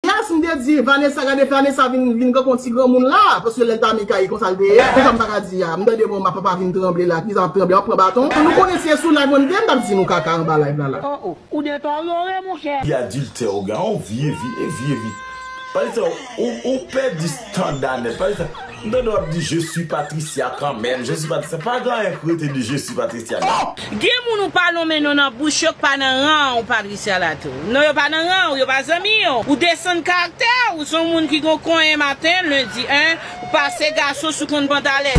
Yes m te di Vanessa gade Vanessa vin vin tankou yon ti granmoun la paske lèl ta Mika e konsal te ye kisa m paka di a m tande bon ma papa vin tranble la kisa map tranble map pran baton nou konnen si e sou live mwen m te m tap di nou kaka anba live la la. Oh oh ou detorore mon chè. Li adiltè ou gen yon vye vi e vye vi. Pale sa ou ou pèdi standa nèt pale sa. M tande wap di je suis Patricia kan menm je suis Patricia pa gen anyen k rete de je suis Patricia non. Gen moun ou pa lonmen non nan bouch yo k pa nan ran w Patricia la tou non yo pa nan ran w yo pa zanmi w ou desann karaktè w ou son moun ki gon konyen maten lundi 1 ou pase gason sou konn pantalèt.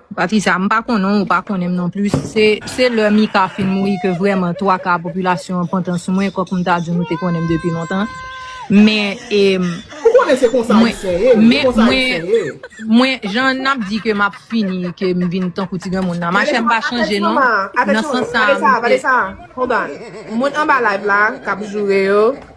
Patricia, m pa konnen w, ou pa konnen m non plis. Se lè Mika fin mouri ke vrèman twa ka popilasyon an pantan sou mwen, kòk m ta di w nou te konnen m depi lontan. Men, e, Ou konnen se konsa Ayisyen ye, se konsa Ayisyen ye. Mwen, jan n ap di ke m ap fini, ke m vin tankou ti granmoun nan, ma chè m pa chanje non, nan sans sa a m te. Vanessa, Vanessa, hold on. Moun anba live la, k ap joure yo.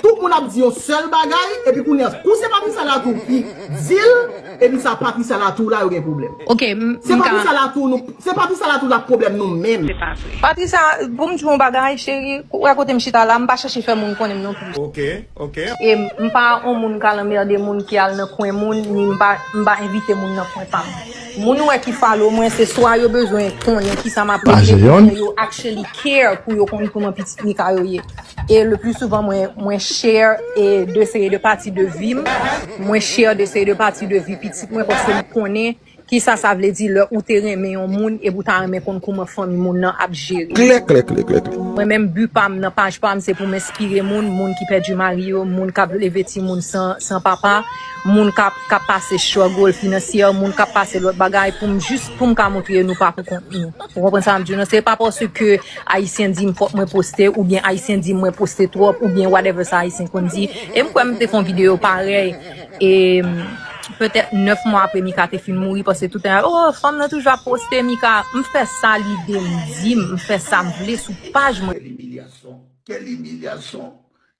Tout moun ap di yon sèl bagay epi kounye a kou se pa Pisa la tou ki dil epi sa pa Pisa la tou la yo gen pwoblèm. Ok m ka. Se pa Pisa la tou nou se pa Pisa la tou la pwoblèm nou menm. Se pa vre. Patricia pou m di w yon bagay cheri ou wè kote m chita la m pa chèche fè moun konnen m non plis. Ok ok. E m pa yon moun k al anmerde moun ki al nan kwen moun ni m pa m pa envite moun nan kwen pa m. Moun ou wè ki follow mwen se swa yo bezwen konnen kisa m ap regle oubyen yo actually care pou yo konn kouman pitit Mika yo ye. E le plus souvent mwen mwen share e de seri de pati de vim, mwen share de seri de pati de vi pitit mwen paske m konnen kisa sa vle di lè ou te renmen yon moun epi ou ta renmen konn kouman fanmi moun nan ap jere Klè klè klè klè klè. Mwen menm but pam nan paj pam se pou m enspire moun, moun ki pèdi mari yo, moun kap leve timoun san san papa, moun kap kap pase struggle finansyè, moun kap pase lòt bagay pou m jis pou m ka montre nou pa pou kont nou. Ou konprann sa map diw nan se pa paske Ayisyen dim fòk mwen poste oubyen ayisyen dim mwen poste twòp oubyen whatever sa ayisyen konn di e m kwè m te fè yon videyo parèy e petèt 9 mwa apre Mika te fin mouri paske toutan yap oh fanm nan toujou ap poste Mika m fè sa lide m di m fè sa m vle sou paj mwen. Quelle humiliation! Quelle humiliation!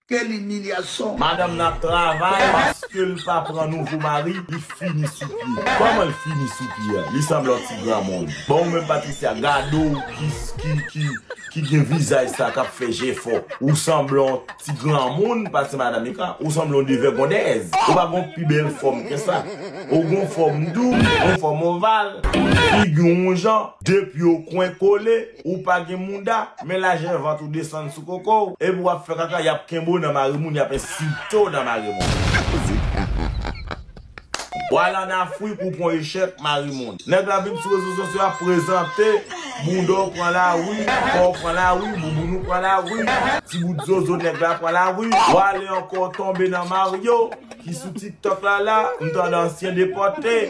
Quel humiliation. Madanm nan ap travay paskel pa pran nouvo mari li fini sou pye kòman l fini sou pye an li sanble yon ti granmoun bon ou menm Patricia gade w ki ki ki ki gen vizaj sa kap fè jèfò ou sanble yon ti granmoun pase madan Mika ou sanble yon devègondèz ou pa gon pi bèl fòm ke sa ou gon fòm dou yon fòm oval figi w yon jan de pye w kwen kole Ou pa gen mouda, men lajè vant ou desann sou koko w, epi w ap fè kaka y ap kenbe w nan mare moun y ap ensilte w nan mare moun. W al an Afrik ou pran w echèk mare moun. Nèg la vin sou rezo sosyo ap prezante, bouda w pran lari, kò w pran lari, bouboun ou pran lari, ti bout zozo nèg la pran lari. W ale ankò w tonbe nan Mario ki sou tiktok la la, m tande ansyen depòte,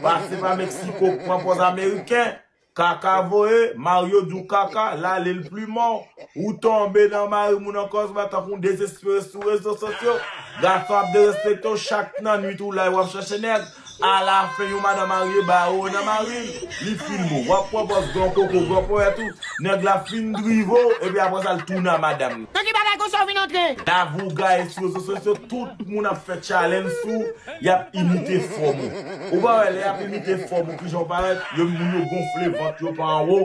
pase pa Meksiko k pran pòz ameriken. Kaka voye, Mario diw kaka, lale l plumanw, ou tonbe nan mari moun an kòzma tankou yon dezespere sou rezo sosyo, gason ap derespektew chak nan nwit ou la e wap chache nèg, ala fen yon madan marye ba ou nan mari l, li filme w, wap pran pòz gran koko, gran ponyèt ou, nèg la fin drive w epi aprè sa l tounen a madanm li. Nan ki bagay konsa w vin antre? Lavougaye sou rezo sosyo, tout moun ap fè challenge sou w, Yap imite fòm ou. Ou pa wè lè yap imite fòm ou kijan ou parèt, yo moun yo gonfle vant yo pa anwo,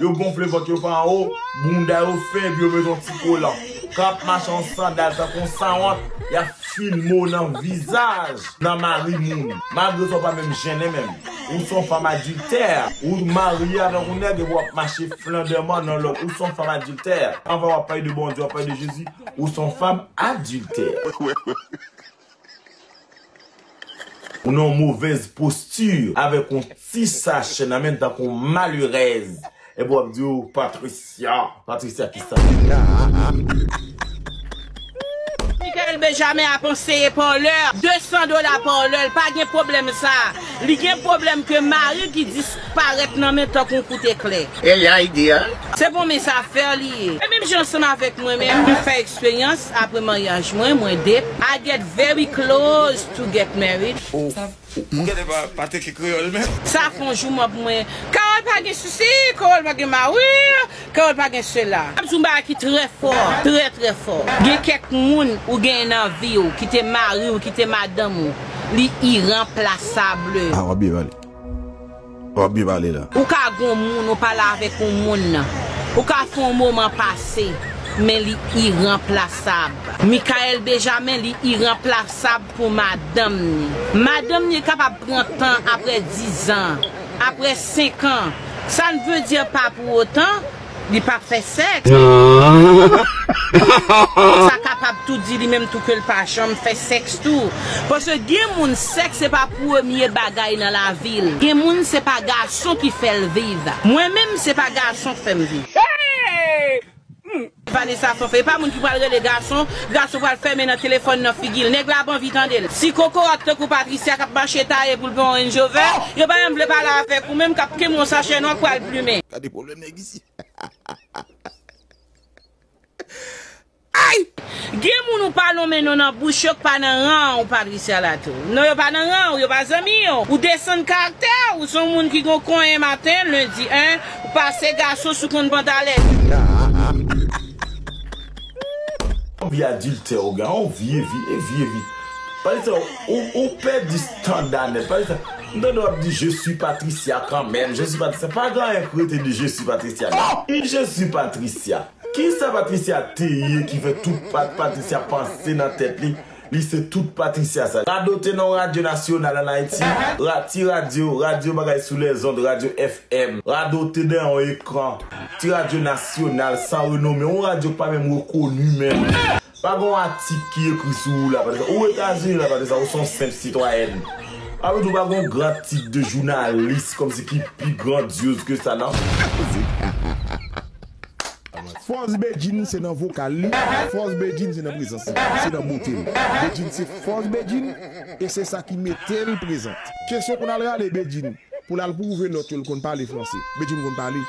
yo gonfle vant yo pa anwo, bounda yo fè epi yo met yon ti kolan. Kan yap mache an sandal tankou yon sanwont, yap filme w nan vizaj, nan mari moun. Malgre sa ou pa menm jennen menm. Ou son fanm adiltè. Ou marye avèk yon nèg epi wap mache flandèman nan lòt. Ou son fanm adiltè. Anvan wap pale de Bondye, wap pale de Jezi, ou son fanm adiltè. Ou nan yon movèz posti avèk yon ti sachè nan men tankou yon malerèz. Epi wap di ou Patricia. Patricia kisa? Mickaël Benjamin ap anseye Parler 200 dola Parler l pa gen pwoblèm sa a. Li gen pwoblèm ke mari ki 10. Parèt nan men tankou yon kout eklè. Ey ya ideyal. Se bon mes affaires li ye. E menm jan ansanm avèk mwen menm mwen fè eksperyans apre maryaj mwen mwen 2 I get very close to get married. Oh mwen gade pa pa teke kreyol menm. Sa fon jou map pou mwen. Carole pa gen sisi, Carole pa gen mari, Carole pa gen sela. Map di yon bagay ki trè fò, trè trè fò. Gen kèk moun ou genyen nan viw ki te mariw ki te madanm ou li iranplasable. Awa bye bale. Wap byen pale la. Ou ka gon moun ou pale avek yon moun nan ou ka fè yon moman pase men li iranplasab. Michaelle Bejamin li iranplasab pou madanm ni. Madanm ni kapab pran tan aprè 10 ans, aprè 5 ans, sa ne veut dire pas pour autant, Li pa fè sèks. Sa kapab tou di li menm tou ke l pa janm fè sèks tou. Paske gen moun sèks se pa premye bagay nan lavi l. Gen moun se pa gason ki fè l viv. Mwen menm se pa gason k fè m viv. Vanessa Fanfan, e pa moun ki pral rele gason, gason pral fèmen nan telefòn nan figi l. Nèg la ap anvi tande l. Ti kokorat tankou Patricia k ap mache taye pou l pran yon Range Rover, yo pa janm vle pale avèk ou menm k ap kenbe yon sachè nwa k pral plumen. nèg isi. Ayy! Gen moun ou pa lonmen non nan bouch yo k pa nan ran w Patricia Latou. Non yo pa nan ran w, yo pa zanmi w. Ou desann karaktè w, ou se yon moun ki gon konyen maten, lendi 1, ou pase gason sou konn pantalèt. Yon vi adiltè ou gen la yon vye vi e vye vi Patricia ou pèdi standa nèt Patricia m tande wap di je suis Patricia kanmèm je suis Patricia pa gen anyen k rete de je suis Patricia non ki je suis Patricia kisa Patricia te ye ki fè tout Patricia panse nan tèt li Li se tout Patricia sa. Radote non radyo nasyonal an Ayiti, ra ti radyo, radyo bagay sou lèzond, radyo FM. Radote dèyè yon ekran, ti radyo nasyonal san renome, yon radyo ki pa menm rekoni menm. Pa gen yon atik ki ekri sou ou la Patricia. Ou Etazini la Patricia, ou se yon senp sitwayèn. Pa pou di w pa gen yon gran tit de jounalis kòmsi ki pi grandyoz ke sa nan. Fòs Bedjine se nan vokal li, fòs Bedjine se nan prezans li, se nan bote l. Bedjine se fòs Bedjine e se sa ki mete l prezant. Kesyon konn al rale Bedjine pou l al pwouve lòt yo l konn pale franse. Bedjine konn pale.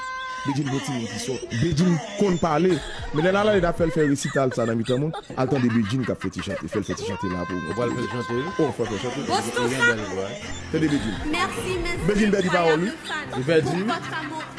Bedjine pa yon timoun ki sòt. Bedjine konn pale. Men lè n al ale n ap fè l fè resital sa nan mitan moun. Al tande Bedjine k ap fè ti chante. Fè l fè ti chante la pou w. Ou pral fè l chante wi. Ou pral fè l chante wi. Li gen bèl vwa. Tande Bedjine. Bedjine pèdi pawòl wi. Li pèdi wi.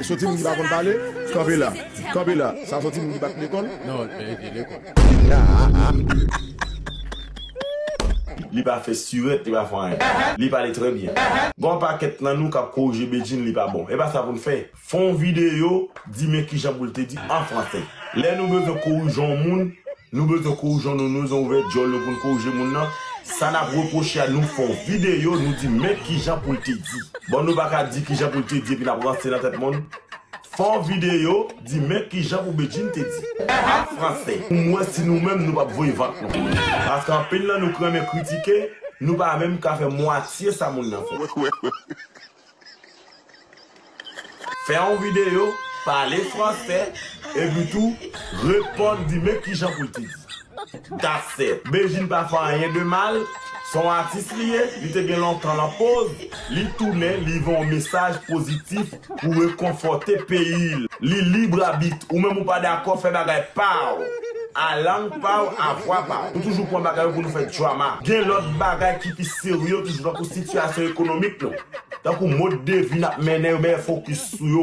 Soti moun ki pa konn pale, kanpe la. Kanpe la. Sa soti moun ki pa t lekòl. Non, li te lekòl. Li pa fè stirèt, li pa fè anyen. Li pale trè byen. Gon pakèt nan nou k ap korije Bedjine li pa bon. E pa sa pou n fè. Fè yon videyo, di men kijan pou l te di an franse. Lè nou bezwen korijan yon moun. Nou bezwen kouwjon nou nou bezwen ouvè dyòl nou poun kourje moun nan sa nap repwoche a nou fon video nou di men kijan poul te di bon nou paka di kijan poul te di epi nap ranse nan tèt moun fon video di men kijan pou Bedjine te di a franse poum wè si nou menm nou pap voye vant nou paske anpil nan nou k renmen kritike nou pa menm ka fè mwatye sa moun nan fè. Fè yon videyo, pale fransè, epi tou reponn di men kijan pou l te di. That's it. Bedjine pa fè anyen de mal, se yon atis li ye, li te gen lontan lan poz, li tounen, li voye yon mesaj pozitif pou rekonfòte peyi l. Li libre arbitre, ou menm ou pa dakò, fè bagay pa w, a lang pa w, a vwa pa w. Nou toujou pran bagay yo pou nou fè drama. Gen lòt bagay ki pi. Seri yo toujou tankou sitiyasyon ekonomik nou, tankou mode de vie nap mennen yo mèt fokis sou yo.